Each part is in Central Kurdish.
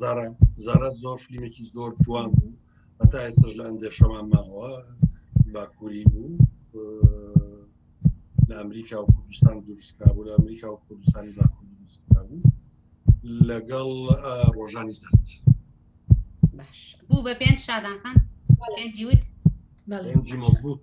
زارا زارا زۆر فیلمێکی زۆر جوان بوو هەتا ئێستش لە ئەندێشەمان ماوە باکووری بوو لە ئەمریکا و کوردستان دروستکرابوو لە ئەمریکا و کوردستانی باکوور دروستکرابوو لەگەڵ ڕۆژانی سەرت بوو بە پێنج شادانخان پێنجی وت پێنجی مەزبوط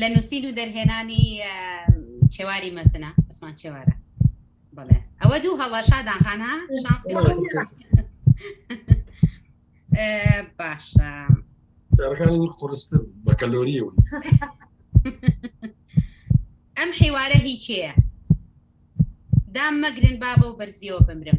لە نووسین و دەرهێنانی چێواری مەسنە ئەسمان چێوارە بڵێ ئەوە دوو هەڵە شادان خانە باشە دەرەکانی من قڕستر بە کەلۆریەوە ئەم حیوارە هیچەیە دام مەگرن بابە و بەرزیەوە بمرم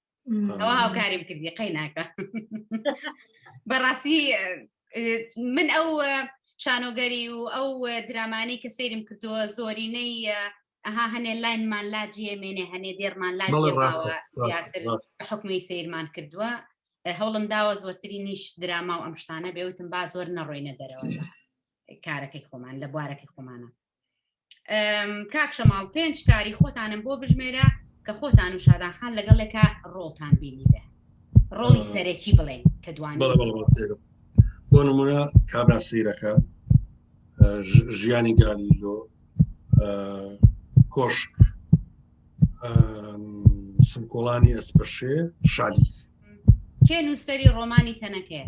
ئەوە هاوکاریم کردی قەی ناکە بەڕاستی من ئەو شانۆگەری و ئەو درامانی کە سەیرم کردووە زۆرینەی ئەها هەنێ لاینمان لا جێمێنێ هەنێ دێرمان لا زیاتر حکومی سیرمان کردووە هەوڵم داوە زۆرتری نیش دراما و ئەم شتانە بێوتم با زۆر نەڕۆینە دەرەوە کارەکەی خۆمان لە بوارەکەی خۆمانە کاک شەماڵ پێنج کاری خۆتانم بۆ بژمێرە کە خۆتان و شادان خان لەگەڵێکە ڕۆڵتان بینی بێ ڕۆڵی سەرەکی بڵێن کە دوان بۆ نمونە کابرا سیرەکە ژیانی گالیلۆ کۆشک سمکۆڵانی ئەسپەشێ شالی کێ نووسری ڕۆمانی تەنەکەیە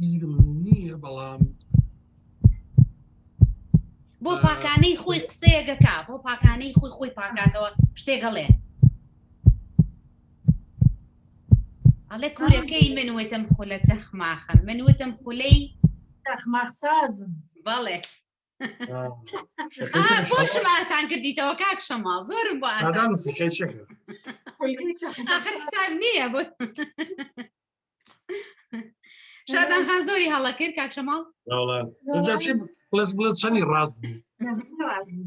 بیرم نییە بەڵام بۆ پاکانەی خۆی قسەیەگەکە بۆ پاکانەی خۆی خۆی پاکاتەوە شتێگەڵێ ئەڵێ کورەکەی من وتم خولە چەخماخە من وتم خولەی چەخماخسازم بەڵێ خۆشم ئاسان کردیتەوە کاک شەما زۆرم بۆ حساب نییە بۆ شادان خان زۆری هەڵە کرد کاک شەماڵ بڵێت بڵێت چەنی ڕاست بوو ڕاست بوو